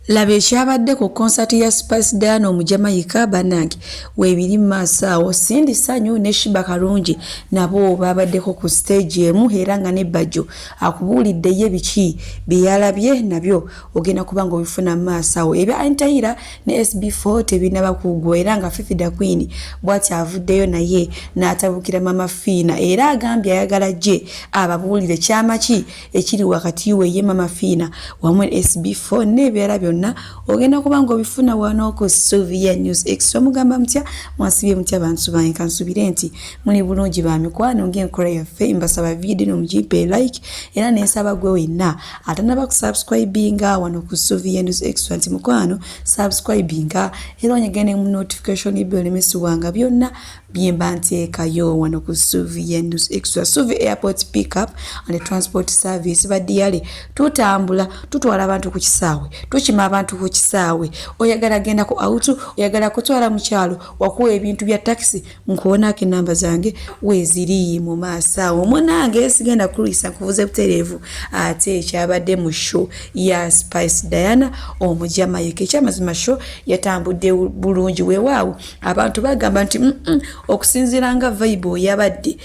Laba ekyabadde ku konsati ya Spice Diana Omujamayika banange weebiri mu maaso awo. Cindy Sanyu ne Shiba Kalungi nabo baabaddeko ku siteegi emu era nga ne Bajjo akubuulidde ye biki bye yalabye nabyo ogenda kuba ng'obifuna mu maaso awo. Ebya Anitayiira ne SB4 tebinnaba kuggwa era nga Fifi Da Queen bw'ati avuddeyo naye n'atabukira Maama Fiina era agambye ayagala ajje ababuulire kyama ki ekiri wakati we ye mama fiina wamu sb4 n'ebirala byonna ogenda kuba nga obifuna wano ku sovia news extra mugamba mutya mwasibye mutya bantu bange kansubire nti muli bulungi ba mikwano ng'enkola yaffe mbasaba vidiyo no mugipe like era nensaba gwe wenna atanaba kusubscribinga wano ku sovia news extra nti mukwano subscribinga era onyegende mu notification byolemesibwanga byonna byemba nteekayo wano ku suvi yenus extra suvi airport pickup and transport service badiyale tutambula tutwala abantu ku kisaawe tukima abantu ku kisaawe oyagala genda ku autu oyagala kutwala mukyalo wakuwa ebintu bya taxi nkuwonaako enamba zange weziri mu maaso awo munange sigenda kulwisa nkuvuze butereevu ate ekyabadde mu show ya spice diana omujamayeka ekyamazima show yatambudde bulungi wewaawo abantu bagamba nti okusinziira nga vibe yabadde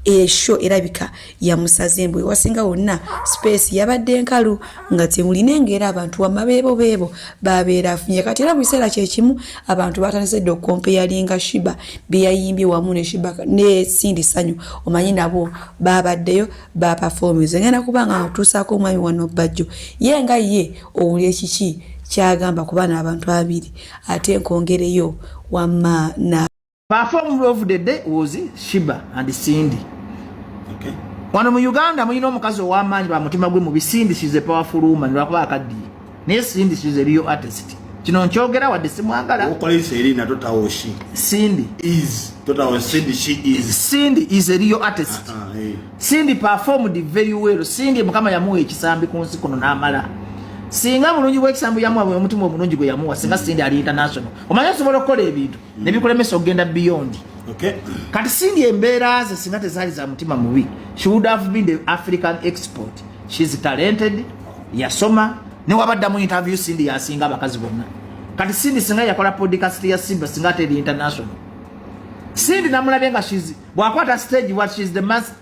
esho erabika yamusaze embwe wasinga wonna space yabadde nkalu nga temulina engeera abantu wamma beebo beebo babeera afunye kati era mu kiseera kyekimu abantu batandise dde okukompeyalinga shiba byeyayimbye wamu ne shiba ne sindi sanyu omanyi nabo babaddeyo ba performance ngenda kubanga otusaako omwami wano bajjo ye nga ye owulira kiki kyagamba kuba n'abantu abiri ate nkongereyo wamma na perform of the day was shiba and cindy okay. wano mu uganda mulina omukazi ow'amaanyi ba mutima gwe mu bisindi she's a powerful woman lwakuba akaddiye naye Cindy she's a real artist kino nkyogera wadde simwagala okolesa eri nato tawo she Cindy is totawo Cindy she is Cindy is a real artist uh -huh, hey. Cindy performed very well Cindy mukama yamuwa ekisambi ku nsi kuno n'amala singa bulungi bw'ekisambi yamuwa bwe omutima omulungi gwe yamuwa singa Cindy ali international omanya osobola okukola ebintu mm. ne bikulemesa okugenda beyond okay. kati sindi embeera ze singa tezaali za mutima mubi she would have been the african export she is talented yasoma newabadda mu interview sindi yasinga abakazi bonna kati sindi singa yakola podcast ya simba singa ate eri international sindi namulabye nga bwakwata stage what she is the master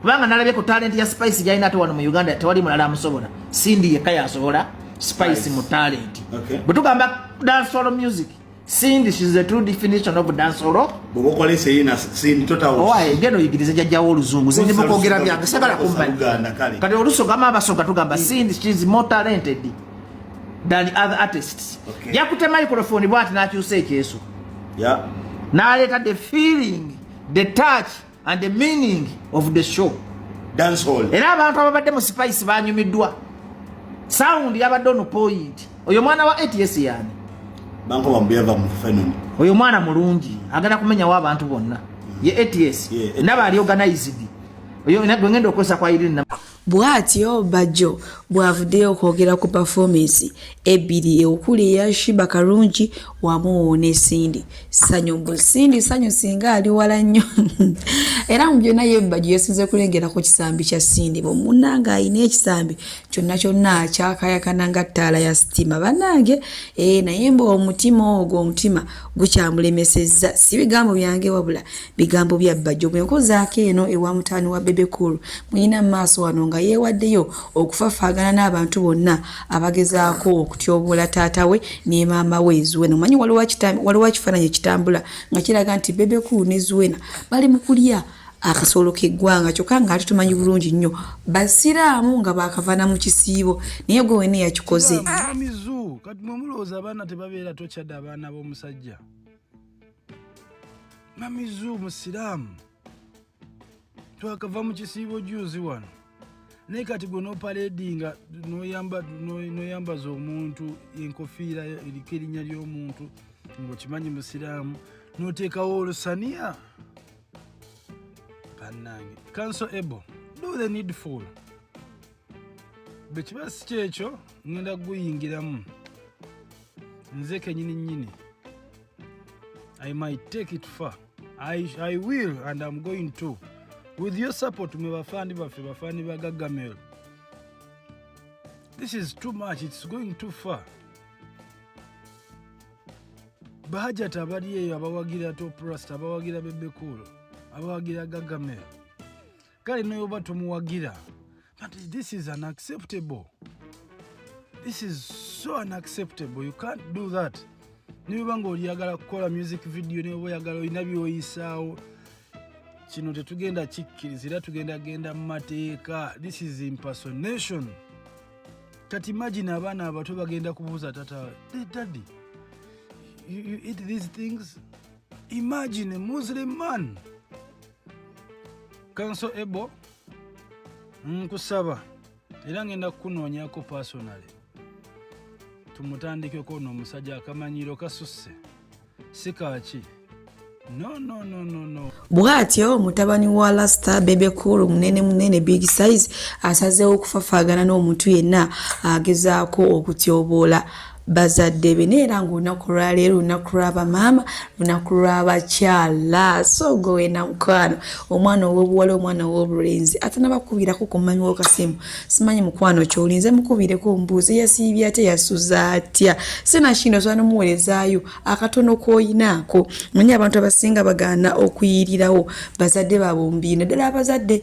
kubanga nalabye ku talent ya spice gyalina ate wano mu uganda tewali mulala amusobola sindi yekka yasobola spice mu talent okay. bwetugamba dansolo music sindi shes the true definition of dansolo geno yigiriza jajjawo oluzungu zindi mukwogera byange sagala kummanyi kati olusogama abasoga tugamba sindi shes more talented than other artists okay. yakute microphone bwati nakyusa ekyeso yeah. naleeta the feeling the touch and the meaning of the show dance hall era abantu ababadde mu spice banyumiddwa sound yabadde ono point oyo mwana wa ats yani banko bambuyava mu fenon oyo mwana mulungi agenda kumenyawo abantu bonna ye ats yeah, naba ali organized oyo nagwe ngenda okozesa kwa irina Bwatyo Bajjo bw'avuddeyo okwogera ku pafoomensi ebbiri okuli eya Shiba Karungi wamu ne Cindy Ssanyu mbu Cindy Ssanyu singa ali wala nnyo era mu byonna ye Bajjo yasinze kulengera ku kisambi kya Cindy bwe munnange alina ekisambi kyonna kyonna kyakayakana nga ttaala ya sitima bannange ee eh, naye mbu omutima ogwo omutima gukyamulemesezza si bigambo byange wabula bigambo bya bbajjo bwe nkozaako eno ewa mutaani wa bebe cool muyina mu maaso wano nga yeewaddeyo okufafaagana n'abantu bonna abagezaako okutyoboola taata we ne maama we zuwena omanyi waliwo ekifaananyi ekitambula nga kiraga nti bebe cool ne zuwena bali mu kulya akasolo keggwanga kyokka nga ate tumanyi bulungi nnyo basiraamu nga bakavana mu kisiibo naye gwe wena yakikoze kati mwe mulowooza abaana tebabeera tokyada abaana b'omusajja mamizu musiraamu twakava mu kisiibo juuzi wano naye kati gwe noparedinga noyambaza omuntu enkofiira eriko erinnya ly'omuntu ngaokimanyi musiraamu noteekawo olusaniya banange kanso ebo do the needful bwekiba si kyekyo ngenda kuguyingiramu nze kenyini nyini I might take it far. I, I will and I'm going to. With your support, me bafandi bafe bafandi ba Gagamel. This is too much. It's going too far. Bahajat abali eyo abawagira Top Rust, abawagira Bebe Cool, abawagira Gagamel. kale noyoba tomuwagira but this is unacceptable this is so unacceptable you can't do that nibiba nga oliyagala kukola music video niba oyagala olina byoyisaawo kino tetugenda kikkiriza era tugenda genda mu mateeka this is impersonation kati imagine abaana abato bagenda kubuuza tata daddy you, you eat these things imagine a muslim man kanso ebo nkusaba era ngenda kukunoonyako personale tumutandikeko no omusajja akamanyiiro kasusse si kaaki no, no, no, no, no. bw'atyo mutabani wa lasita bebe cool munene munene big size asazeewo okufafaagana n'omuntu yenna agezaako okutyoboola bazadde be naye era ngaolunaku lwaleero lunaku lwabamaama lunaku lwabakyala sogo wena mukwano omwana owobuwala omwana owobulenzi atanabakubirako kumanyiwo kasimu simanyi mukwano kyolinze mukubireko mbuuzi yasiibye atya yasuza atya sinakino osobola nomuwerezayo akatono koyinaako manye abantu abasinga bagaana okuyirirawo bazadde babumbi naddala abazadde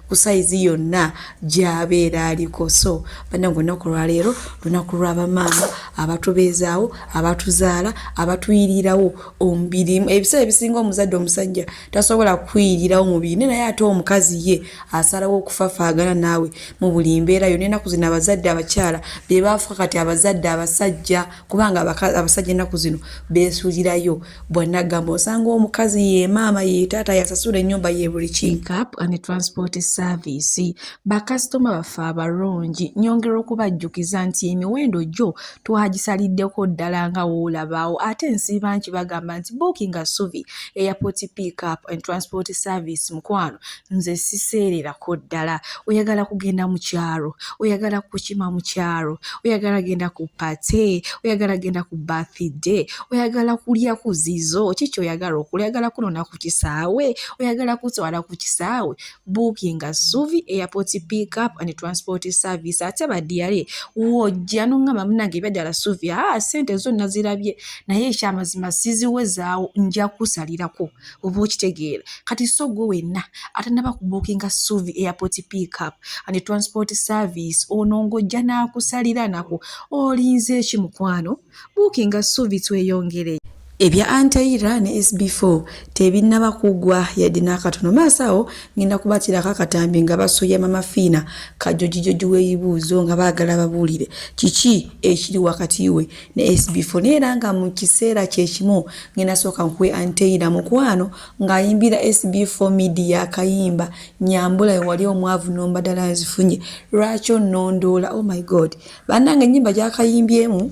ku sayizi yonna gyabeera aliko so banange olunaku lwaleero lunaku lwabamaama abatubeezaawo abatuzaala abatuyirirawo omubiri ebiseera ebisinga omuzadde omusajja tasobola kuyirirawo mubiri ne naye ate omukazi ye asalawo okufafaagana naawe mu buli mbeera yona enaku zino abazadde abakyala bebaafuka kati abazadde abasajja kubanga abasajja ennaku zino beesulirayo bwanagamba osanga omukazi yemaama yetaata yasasula ennyumba yebuli kicap and transport service bakasitoma baffe abalungi nyongera okubajjukiza nti emiwendo gyo twagisaliddeko ddala nga woolabaawo ate nsiiba nki bagamba nti bookinga suvi airport pickup and transport service mukwano nze siseererako ddala oyagala kugenda mu kyalo oyagala kukima mu kyalo oyagala genda ku pate oyagala genda ku bathide oyagala kulya ku zizo kiki oyagala okula oyagala kunona ku kisaawe oyagala kutwala ku kisaawe buukinga suvi airport pick up and transport service ate badiyale wojja noŋŋamba munange ebyaddala suvi aa ah, sente zonna zirabye naye ekyamazima siziwezaawo nja kusalirako oba okitegeera kati so gwe wenna atanaba kubukinga suvi airport pickup and transport service ono ng'ojja n'akusalira nako olinze eki mukwano bukinga suvi tweyongere ebya anteira ne sb4 tebinaba kugwa yadde n'akatono maaso awo ngenda kubatirako akatambi nga basoya mamafiina kajojijoji w'eyibuuzo nga baagala babuulire kiki ekiri wakati we ne SB4 naye era nga mu kiseera kyekimu ngenda sooka nkuwe anteyira mukwano ng'ayimbira SB4 media akayimba nyambula wewali omwavu nomba ddala nzifunye lwaki onnondoola oh my god bannanga ennyimba gyakayimbyemu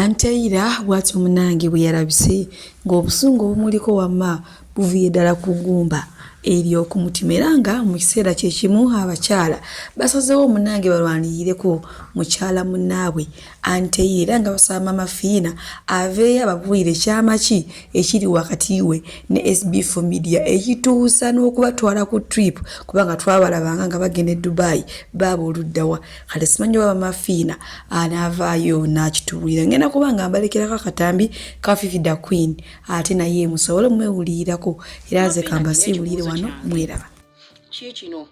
Anteira bwatyo munange bweyalabise ng'obusungu obumuliko wamma buviye ddala ku ggumba ery'okumutima era nga mu kiseera kye kimu abakyala basazeewo munange balwaniyireko mukyala munnaabwe Anteira era nga basaba Maama Fiina aveeyo ababuulire kyama ki ekiri wakati we ne SB4 Media ekituusa n'okubatwala ku trip kubanga twabalabanga nga bagenda e Dubai baaba oluddawa kale simanyi oba bamafiina anaavaayo n'akitubuulira ngenda kuba nga mbalekerako akatambi ka fifi da queen ate naye musobole omwewulirirako era nze kamba siiwulire wano mweraba kiikino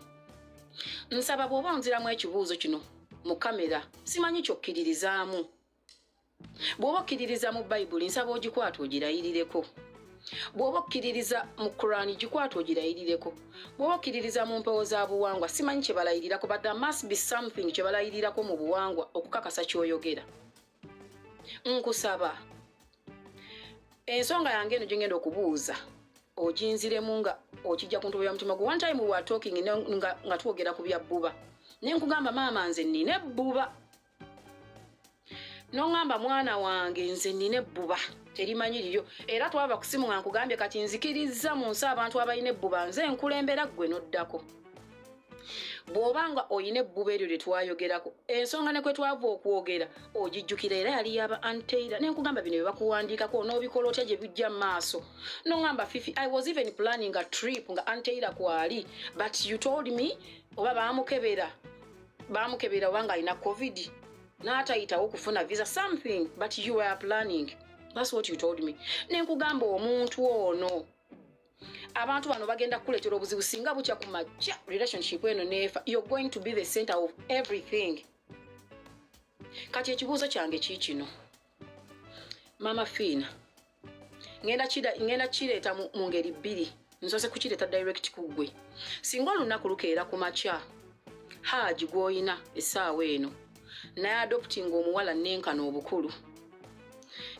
nsaba bw'oba onziramu ekibuuzo kino mu kamera simanyi kyokkiririzaamu bw'oba okkiririza mu bayibuli nsaba ogikwata ogirayirireko bw'oba okkiririza mu kurani gikwata ogirayirireko bw'oba okkiririza mu mpewo za buwangwa simanyi kye balayirirako but there must be something kye balayirirako mu buwangwa okukakasa ky'oyogera nkusaba ensonga yange eno gyengenda okubuuza oginziremu nga okijja ku ntobo ya mutima gwe one time wa talking nga twogera ku bya bbuba naye nkugamba maama nze nina ebbuba noŋamba mwana wange nze nina ebbuba terimanyi liryo era twava kusimu nga nkugambye kati nzikirizza mu nsi abantu abalina ebbuba nze nkulembera ggwe noddako bw'oba nga olina ebbuba eryo lye twayogerako ensonga ne kwe twava okwogera ogijjukira era yali yaba anteira ne nkugamba bino bye bakuwandiikako onoobikola otya gye bijja mu maaso noŋamba fifi i was even planning a trip nga anteira kwali but you told me oba baamukebera baamukebera oba ng'alina covid n'atayitawo kufuna visa something but you were planning thats what you told me nenkugamba omuntu ono abantu bano bagenda kukuleetera obuzibu singa bukya ku majja relationship eno neefa you're going to be the center of everything kati ekibuuzo kyange kiikino mama fiina ngenda kireeta mu ngeri bbiri nsoose kukireeta direct ku ggwe singa olunaku lukeera ku makya haaji gw'olina essaawa eno naye adoptinga omuwala nenkana obukulu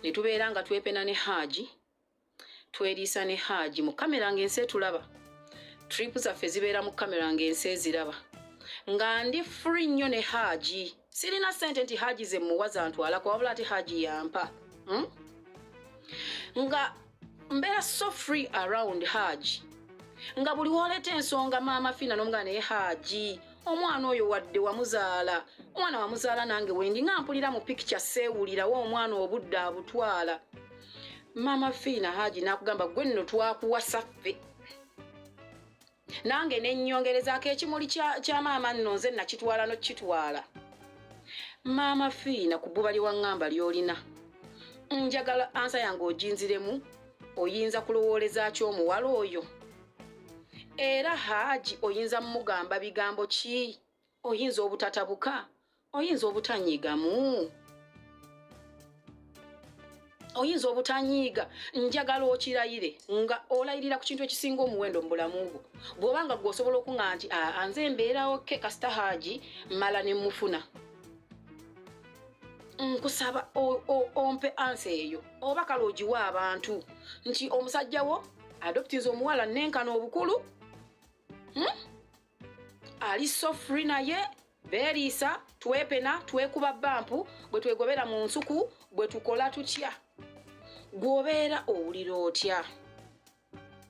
ne tubeera nga twepena ne haaji tweriisa ne haaji mu kamera ng'ensi etulaba tripu zaffe zibeera mu kamera ng'ensi eziraba nga ndi free nnyo ne haaji sirina ssente nti haaji ze muwa zantwalako wabula ate haaji yampa hmm? nga mbeera so free around haaji nga buli woleeta ensonga maama fina nomugana naye haaji omwana oyo wadde wamuzaala omwana wamuzaala nange wendi nga mpulira mu pikica seewulirawo omwana obudde abutwala maama fiina haji nakugamba gwe nno twakuwasa ffe nange nenyongerezaako ekimuli kya maama nno nze nakitwala nokitwala maama fiina ku bbuba lyewaŋŋamba lyolina njagala ansa yange oginziremu oyinza kulowooleza ki omuwala oyo era haaji oyinza mumugamba bigambo ki oyinza obutatabuka oyinza obutanyiigamu oyinza obutanyiiga njagala okirayire nga olayirira ku kintu ekisinga omuwendo mu bulamu bwo bw'oba nga gweosobola okuŋa nti anze embeerawo ke kasita haaji mala ne mufuna nkusaba ompe ansa eyo oba kale ogiwa abantu nti omusajja wo adoptinze omuwala nenkana obukulu hmm? ali so free naye beeriisa twepena twekuba bampu bwe twegobera mu nsuku bwe tukola tutya gwobeera owulira otya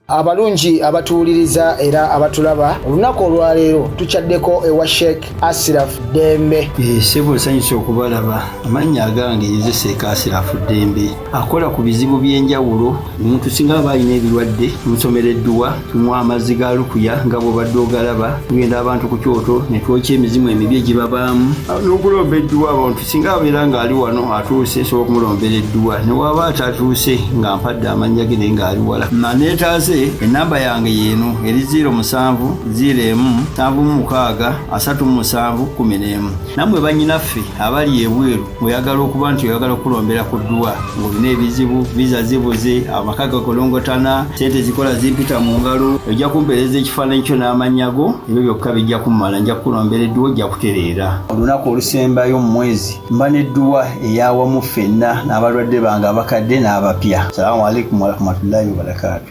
abalungi abatuwuliriza era abatulaba olunaku olwaleero tukyaddeko ewa sheik asiraf dembe eh, sebo nsanyusa okubalaba amannya agange nze seeka asiraf dembe akola ku bizibu by'enjawulo omuntu singa aba alina ebirwadde musomera edduwa tumuwa amazzi ga lukuya nga bwobadde ogalaba tugenda abantu ku kyoto ne twokya emizimu emibi egibabaamu n'okulomba edduwa abantu singa abeera ng'ali wano atuuse esobola okumulombera edduwa ne waaba atatuuse nga mpadde amannya ge naye ng'ali wala maneetaase ennamba yange yeeno eri ziiro musanvu ziiro emu nsanvu mu mukaaga asatu mu musanvu kkumi n'emu nammwe bannyinaffe abali ebweru oyagala okuba nti oyagala okulombera ku dduwa ng'olina ebizibu viza zibuze amaka gakolongotana sente zikola zimpita mu ngalo ojja kumpeereza ekifaananyi kyo n'amannya go ebyo byokka bijja kumumala nja kukulombera edduwa ojja kutereera olunaku olusembayo mu mwezi mba n'edduwa eyawamu ffenna n'abalwadde bange abakadde n'abapya salamu aleikum warahmatullahi wabarakaatu